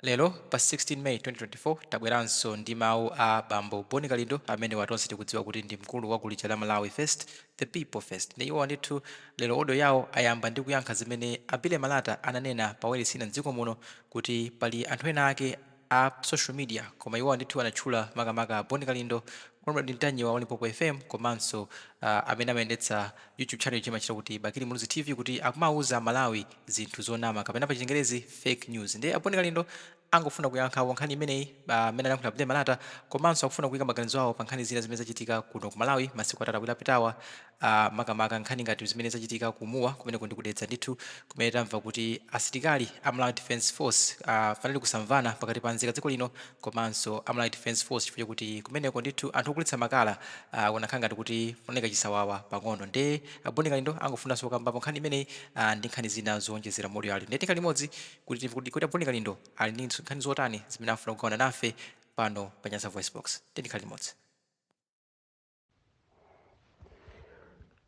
Lero pa 16 May 2024 tabweranso ndi mawu a bambo Bon Kalindo amenewa tonse tikudziwa kuti ndi mkulu wa gulu lija la Malawi First The People First nde iwowa ndithu lero audio yawo ayamba ndi kuyankha zimene a Billy Malata ananena pa wailesi ina mdziko muno kuti pali anthu ena ake a social media koma iwowa ndithu anatchula makamaka a Bon Kalindo Comrade Ntanyiwa wa Limpopo FM komanso amene amayendetsa YouTube channel ija imatchedwa kuti Bakili Muluzi TV kuti akumauza Amalawi zinthu zonama kapena pa chingerezi fake news ndiye a Bon Kalindo angofuna kuyankhapo nkhani imeneyi pa mmene anayankhulira Billy Malata komanso akufuna kuika maganizo awo pa nkhani zina zimene zachitika kuno ku Malawi masiku atatu awiri apitawa Aaa makamaka nkhani ngati zimene zachitika ku Mua kumeneko ndi ku Dedza ndithu kumene tamva kuti asilikali a Malawi Defence Force aah panali kusamvana pakati pa nzika za dziko lino komanso a Malawi Defence Force chifukwa chakuti kumeneko ndithu anthu ogulitsa makala aah kunakhala ngati kuti kunaoneka chisawawa pang'ono nde a Bon Kalindo angofunanso kukambapo nkhani imeneyi aah ndi nkhani zina zoonjezera monga ali nde tikhale limodzi kuti timve kuti kodi a Bon Kalindo ali ndi nkhani zotani zimene afuna kugawana nafe pano pa Nyasa VoiceBox tiyeni tikhale limodzi.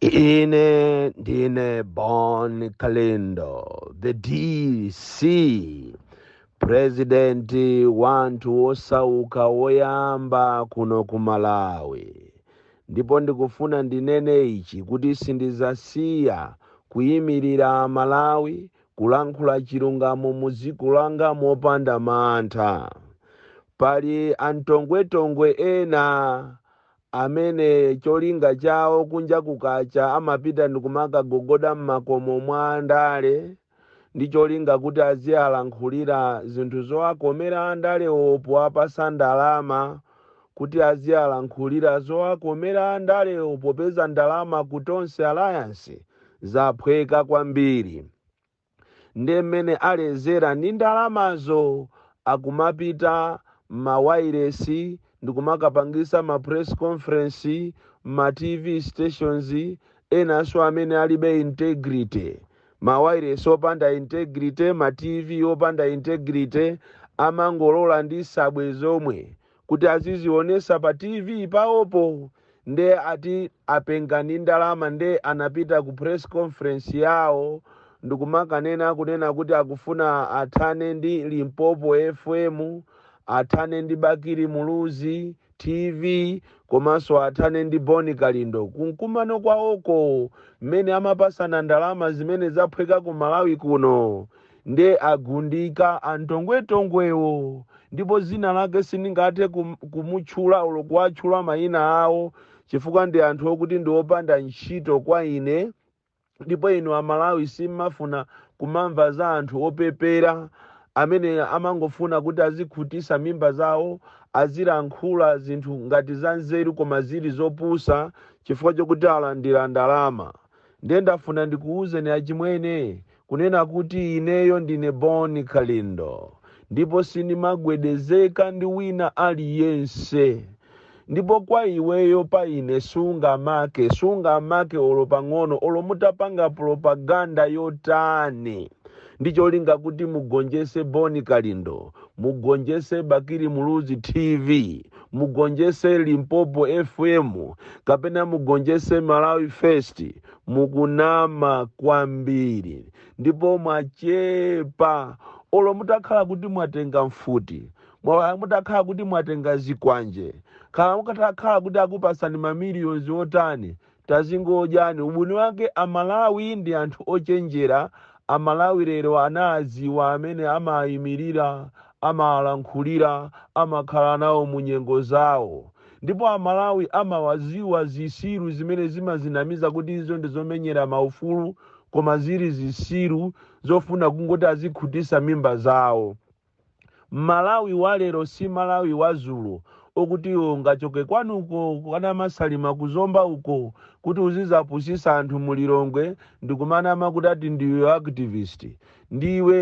Ine ndine Bon Kalindo, the DC, president wanthu osauka woyamba kuno ku Malawi. Ndipo ndikufuna ndinene ichi kuti sindizasiya kuyimirira Malawi kulankhula chilungamo mu dziko langa mopanda mantha. Pali antongwetongwe ena amene cholinga chawo kunja kukacha amapita ndikumakagogoda mmakomo mwa andale ndi cholinga kuti azialankhulira zinthu zowakomera andalewo powapasa ndalama kuti azialankhulira zowakomera andalewo popeza ndalama ku Tonse Alliance zaphweka kwambiri. nde mmene alezera ndi ndalamazo akumapita mma wailesi ndikumakapangisa ma press conference mma tv stations enanso amene alibe integrity. Ma wailesi opanda integrity, ma tv opanda integrity amangolola ndi nsabwe zomwe kuti azizionesa pa TV pawopo nde ati apenga ndi ndalama nde anapita ku press conference yao ndikumakanena kunena kuti akufuna athane ndi Limpopo FM, athane ndi Bakili Muluzi TV komanso athane ndi Bon Kalindo. Kumkumano kwawoko mmene amapasana ndalama zimene zaphweka ku Malawi kuno. Nde agundika atong'wetong'wewo ndipo zina lake sindingathe kumutchula olo kuwatchula mayina awo chifukwa ndi anthu okuti ndi opanda ntchito kwa ine ndipo inu amalawi simumafuna kumamva za anthu opepera amene amangofuna kuti azikhutisa mimba zawo azilankhula zinthu ngati za nzeru koma zili zopusa chifukwa chokuti alandira ndalama. ndiye ndafuna ndikuwuzeni achimwene kunena kuti ineyo ndine boni kalindo ndipo sindimagwedezeka ndi wina aliyense ndipo kwa iweyo pa ine sungamake sungamake olo pang'ono olo mutapanga propaganda yotani ndi cholinga kuti mugonjese boni kalindo mugonjese bakili muluzi tv mugonjese limpopo fm kapena mugonjese malawi first mukunama kwambiri ndipo mwachepa olo mutakhala kuti mwatenga mfuti mwa- mutakhala kuti mwatenga zikwanje khala mutakhala kuti akupasani mamiliyoni otani Tazingodyani. Ubwino wake a Malawi ndi anthu ochenjera, a Malawi lero anawadziwa amene amawaimirira, amawalankhulira, amakhala nawo mu nyengo zawo. Ndipo a Malawi amawadziwa zitsiru zimene zimadzinamiza kuti izo ndi zomenyera maufulu koma zili zitsiru zofuna kungoti azikhutitsa mimba zawo. Malawi walero si Malawi wazulo okuti iwe ungachoke kwanuko kwa Namasalima ku Zomba uko kuti uzizapusisa anthu mu Lilongwe ndikumanama kuti ati ndiwe activist. Ndiwe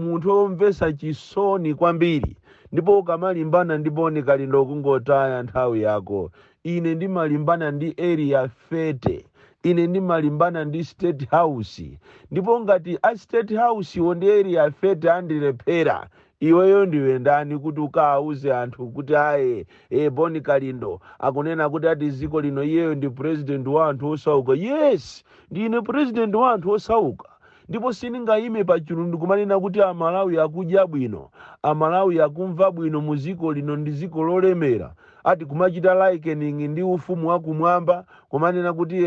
munthu omvesa chisoni kwambiri ndipo ukamalimbana ndi Boni Kalindo kungotaya nthawi yako. Ine ndimalimbana ndi Area 30. Ine ndimalimbana ndi State House. Ndipo ngati a State House wo ndi Area 30 andilephera, iweyo ndiwe ndani kuti ukawauze anthu kuti aye, e, Boni Kalindo akunena kuti ati dziko lino iyeyo ndi president wa anthu osauka. Yes! Ndine president wa anthu osauka. Ndipo sindingayime pachulu nkumanena kuti a Malawi akudya bwino, a Malawi akumva bwino mu dziko lino ndi dziko lolemera, ati kumachita likening ndi ufumu wa kumwamba, kumanena kuti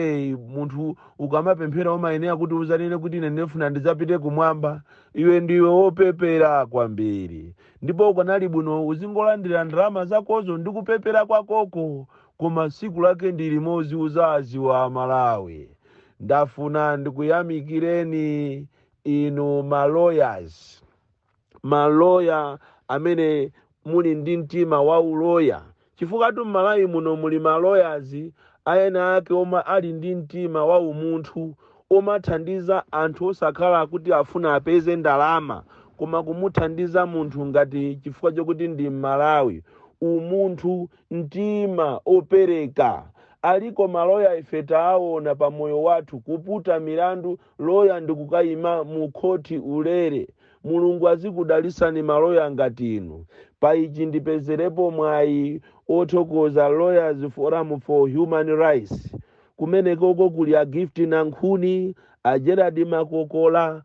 munthu ukamapemphera umayenera kuti udzanene kuti ine ndifuna ndidzapite kumwamba, iwe ndiwe wopepera kwambiri ndipo ukanali bwino uzingolandira ndalama zakozo ndi kupepera kwakoko koma tsiku lake ndi limodzi udzadziwa a Malawi. ndafuna ndikuyamikireni inu ma lawyers ma lawyer amene muli ndi mtima wa uloya chifukwatu m'malawi muno muli ma lawyers ena ake omwe ali ndi mtima wa umunthu omathandiza anthu osakhala kuti afuna apeze ndalama koma kumuthandiza munthu ngati chifukwa chokuti ndi m'malawi umunthu mtima opereka aliko ma lawyer ife taawona pa moyo wathu kuputa milandu lawyer ndikukayima mu khoti ulere mulungu azikudalisani ma lawyer ngati inu pa ichi ndipezerepo mwayi othokoza lawyers forum for human rights kumenekoko kuli a gift nankhuni a gerard makokola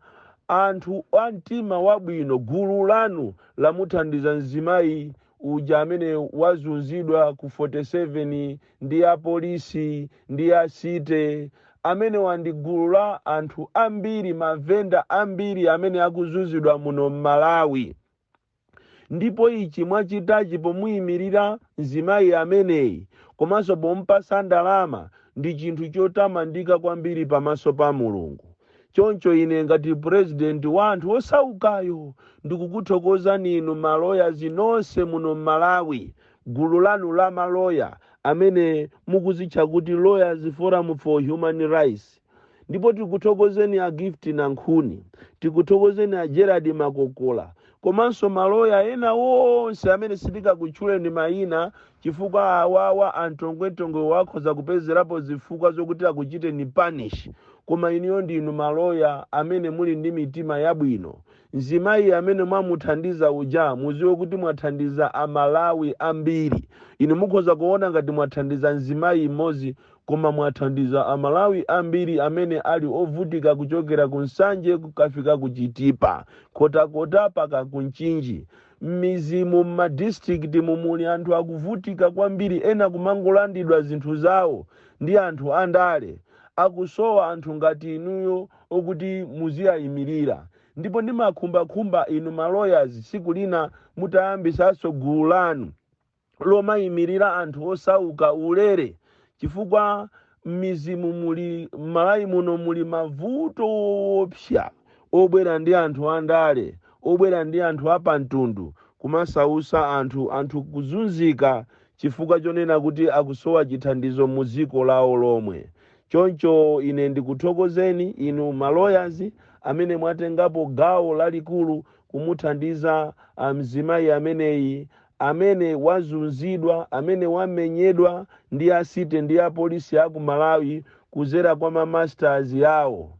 anthu a mtima wabwino gulu lanu lamuthandiza mzimayi uja amene wazunzidwa ku 47 ndi apolisi ndi a city amenewa ndi gulu la anthu ambiri mavenda ambiri amene akuzunzidwa muno m'malawi ndipo ichi mwachitachi pomuyimirira mzimayi ameneyi komanso pompasa ndalama ndi chinthu chotamandika kwambiri pamaso pa mulungu choncho ine ngati purezidenti wa anthu osaukayo ndikukuthokozani inu ma lawyers nonse muno m'malawi gulu lanu la ma lawyer amene mukuzitcha kuti lawyers forum for human rights ndipo tikuthokozeni a gift nankhuni tikuthokozeni a gerard makokola komanso ma lawyer ena onse amene sitikakutchuleni mayina Chifukwa awawa antongwentongwewa akhoza kupezerapo zifukwa zokuti akuchiteni punish koma inuyo ndinu ma lawyer amene muli ndi mitima yabwino. Mzimayi amene mwamuthandiza uja muziwe kuti mwathandiza a Malawi ambiri. Inu mukhoza kuona ngati mwathandiza mzimayi mmodzi koma mwathandiza a Malawi ambiri amene ali ovutika kuchokera ku Nsanje kukafika ku Chitipa, Nkhotakota paka ku Mchinji. Mmizimu mma district mu muli anthu akuvutika kwambiri ena kumangolandidwa zinthu zawo ndi anthu andale. Akusowa anthu ngati inuyo okuti muziaimilira. Ndipo ndimakhumbakhumba inu ma lawyers siku lina mutayambisanso gulu lanu. lomaimilira anthu osauka ulere chifukwa mmizimu muli mmalawi muno muli mavuto oopsa obwera ndi anthu andale obwera ndi anthu apamtundu kumasausa anthu anthu kuzunzika chifukwa chonena kuti akusowa chithandizo mu dziko lawo lomwe choncho ine ndikuthokozeni inu ma lawyers amene mwatengapo gawo lalikulu kumuthandiza mzimayi ameneyi amene wazunzidwa, amene wamenyedwa ndi a city ndi a police aku Malawi kuzera kwa ma masters awo.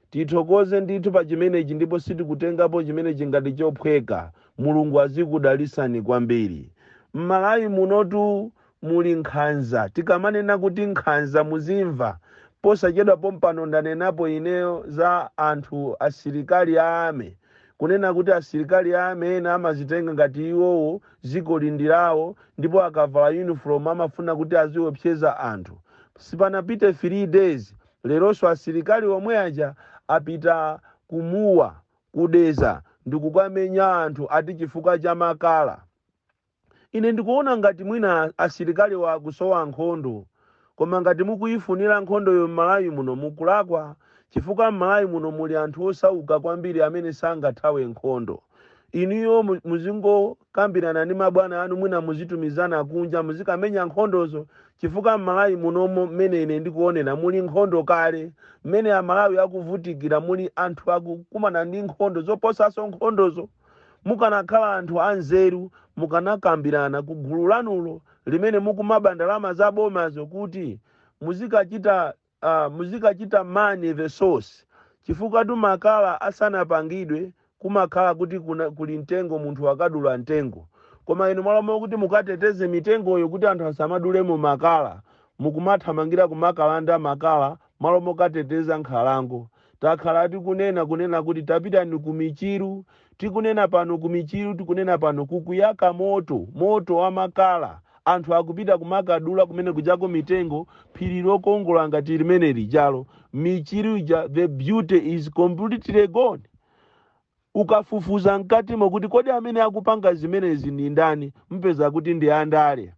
Tithokoze ndithu pa chimenechi ndipo sitikutengapo chimenechi ngati chophweka. Mulungu azikudalisani kwambiri. Mmalawi munotu muli nkhanza tikamanena kuti nkhanza muzimva posachedwa pompano ndanenapo ineyo za anthu asilikali a army kunena kuti asilikali a army ena amazitenga ngati iwowo dzikoli ndi lawo ndipo akavala uniform amafuna kuti aziopseza anthu sipanapite 3 days leronso asilikali omwe aja apita ku Mua ku Dedza ndikukamenya anthu ati chifukwa cha makala Ine ndikuona ngati mwina asilikaliwo akusowa nkhondo koma ngati mukuyifunira nkhondoyo m'Malawi muno mukulakwa chifukwa m'Malawi muno muli anthu osauka kwambiri amene sangathawe nkhondo. Inuyo muzingokambirana ndi mabwana anu mwina muzitumizana kunja muzikamenya nkhondozo chifukwa m'Malawi munomo mmene ine ndikuonera muli nkhondo kale. Mmene Amalawi akuvutikira muli anthu akukumana ndi nkhondo zoposanso nkhondozo. Mukanakhala anthu anzeru mukanakambirana ku gulu lanulo limene mukumaba ndalama za bomazo kuti muzikachita uh, muzikachita man the source chifukwatu makala asanapangidwe kumakhala kuti kuna, kuli mtengo munthu akadula mtengo koma inu malo mokuti mukateteze mitengoyo kuti anthu asamadulemo makala mukumathamangira kumakalanda makala malo mokateteza nkhalango Takhala tikunena kunena kuti tapitani ku Michiru, tikunena pano ku Michiru, tikunena pano, kukuyaka moto, moto wa makala. Anthu akupita kumakadula kumene kujako mitengo, phiri lokongola ngati limene lijalo, Michiru ija, the beauty is completely gone. Ukafufuza mkatimo kuti kodi amene akupanga zimenezi ndi ndani, mupeza kuti ndi andale.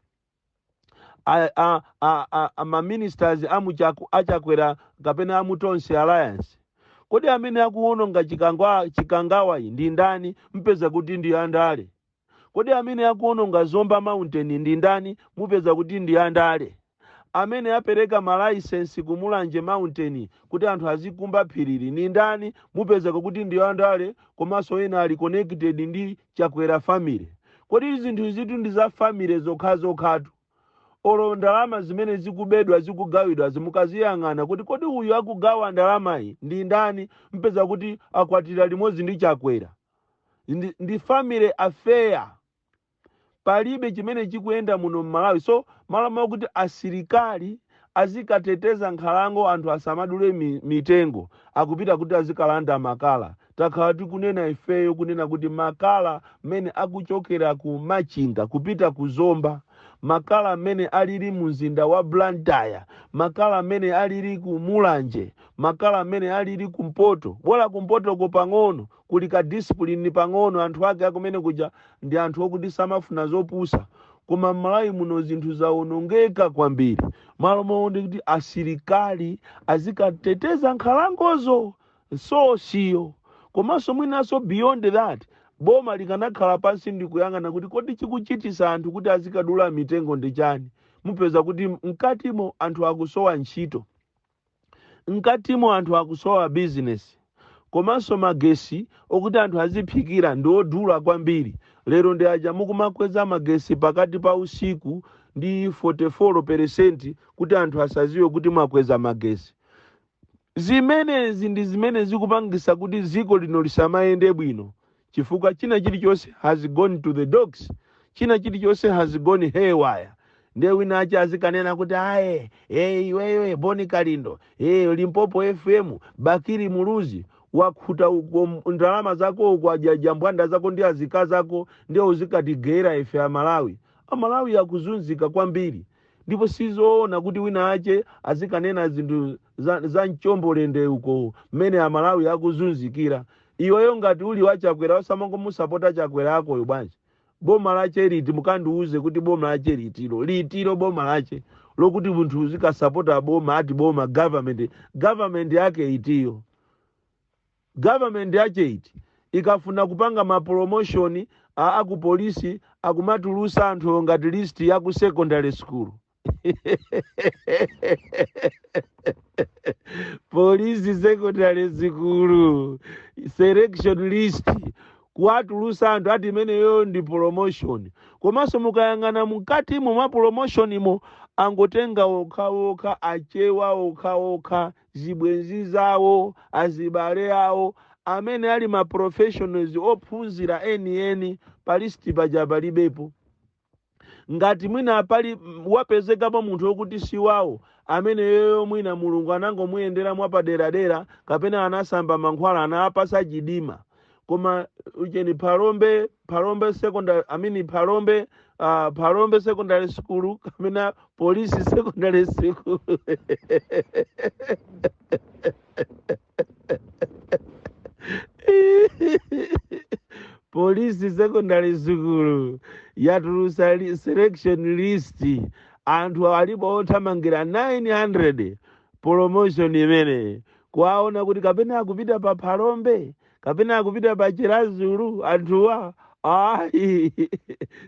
a, a, a, a, a maministers amuchaku achakwera kapena amutonse alliance kodi amene akuwononga chikangwa chikangawa iyi ndi ndani mpeza kuti ndi andale kodi amene akuwononga zomba mountain ndi ndani mupeza kuti ndi andale amene apereka malaisensi ku mulanje mountain kuti anthu azikumba phirili ndi ndani mupezeka kuti ndi andale komanso ena ali connected ndi Chakwera family? Kodi zinthu izitu ndi za family zokhazokhatu? Olo ndalama zimene zikubedwa zikugawidwazi mukaziyang'ana kuti kodi uyu akugawa ndalamayi ndi ndani mpeza kuti akwatira limodzi ndi Chakwera. Ndi, ndi family affair. palibe chimene chikuyenda muno mmalawi so mmalo mwakuti asilikali azikateteza nkhalango anthu asamadule mi, mitengo akupita kuti azikalanda makala takhala tikunena ifeyo kunena kuti makala mmene akuchokera ku machinga kupita ku zomba makala mmene alili mu mzinda wa blantyre makala mmene alili ku mulanje makala mmene alili kumpoto bola kumpotoko pang'ono kuli ka discipline pang'ono anthu ake akumene kuja ndi anthu okuti samafuna zopusa koma mmalawi muno zinthu zawonongeka kwambiri mmalo mwake ndi kuti asilikali azikateteza nkhalangozo so siyo komanso mwinanso beyond that boma likanakhala pansi ndikuyang'ana kuti kodi chikuchitisa anthu kuti azikadula mitengo ndi chani mupeza kuti mkatimo anthu akusowa ntchito Mkatimo anthu akusowa business komanso magesi okuti anthu aziphikira ndi odula kwambiri lero ndi aja mukumakweza magesi pakati pa usiku ndi 44 percent kuti anthu asaziwe kuti mwakweza magesi. Zimenezi ndi zimene zikupangisa kuti dziko lino lisamayende bwino chifukwa china chilichonse has gone to the dogs china chilichonse has gone haywire ndiye wina ache azikanena kuti iwe e iweyo e boni kalindo e limpopo fm bakiri muluzi wakhuta uko m- ndalama zako uko kwa jambwanda zako ndi azika zako ndiye uzikatigeyera ife amalawi amalawi akuzunzika kwambiri ndipo sizoona kuti wina ache azikanena zinthu za, za mchombolende uko mmene amalawi akuzunzikira iweyo ngati uli wa chakwera osamangomusapota chakwera akoyo bwanji boma lache liti mukandiuze kuti boma lache litiro litiro boma lache lokuti munthu uzikasapota boma ati boma government government yake itiyo government yache iti ikafuna kupanga mapromotion a- aku polisi akumatulusa anthu ngati list ya ku secondary school polisi secondary sukulu selection list kuwatulusa anthu ati imeneyo ndi promotion komanso mukayang'ana mkatimo mwa promotionimo angotenga okhaokha achewa okhaokha zibwenzi zawo azibale awo amene ali ma professionals ophunzira enieni pa list paja palibepo ngati mwina pali mm, wapezekapo munthu wokuti si wawo ameneyoyo mwina mulungu anangomuyendera mwapaderadera kapena anasamba mankhwala anawapasa chidima koma ucheni phalombe phalombe secondary i mean phalombe uh, phalombe secondary school kapena polisi secondary school polisi secondary sukulu yatulusa selection list anthu alipo othamangira 900 promotion imene kuwaona kuti kapena akupita pa phalombe kapena akupita pa chiradzulu anthuwa ayi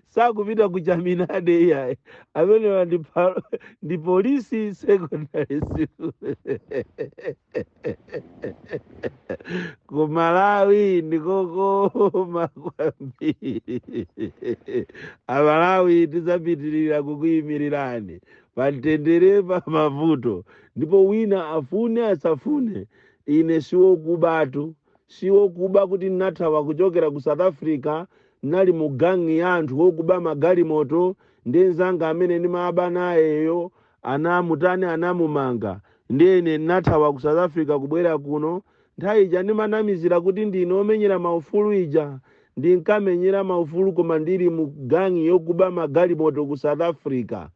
sakupita ku chaminade iyayi amenewa ndi phalo- ndi polisi secondary sukulu ku malawi ndikokoma kwambiri amalawi tizapitirira kukuyimirirani pamtendere pa mavuto ndipo wina afune asafune ine siwokubatu siwokuba kuti ndinathawa kuchokera ku south africa nali mu gangi ya anthu wokuba magalimoto ndi nzanga amene ndimaba nayeyo anamutani anamumanga ndiye ine ndinathawa ku south africa kubwera kuno nthawi ija ndimanamizira kuti ndine omenyera maufulu ija ndinkamenyera maufulu koma ndili mu gangi yokuba magalimoto ku south africa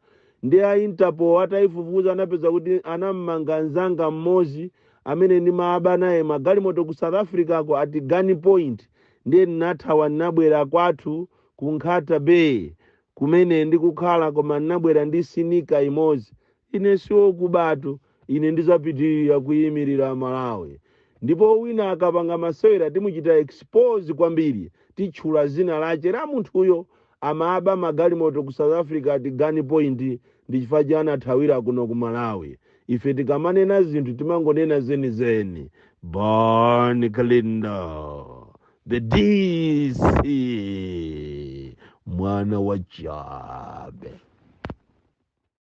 ndi a interpol atayifufuza anapeza kuti anamumanga mzanga mmodzi amene ndimaba naye magalimoto ku south africa ko at gun point ndiye ndinathawa ndinabwera kwathu ku nkhata bay kumene ndikukhala, koma ndinabwera ndi sinika imodzi. Ine siwokubatu, ine ndizapitirira kuyimirira Malawi. Ndipo wina akapanga masewera timuchita expose kwambiri, titchula zina lache la munthuyo amaba magalimoto ku South Africa at Gun Point ndi chifukwa che anathawira kuno ku Malawi. Ife tikamanena zinthu timangonena zenizeni. Bon Kalindo. the dc mwana wa chabe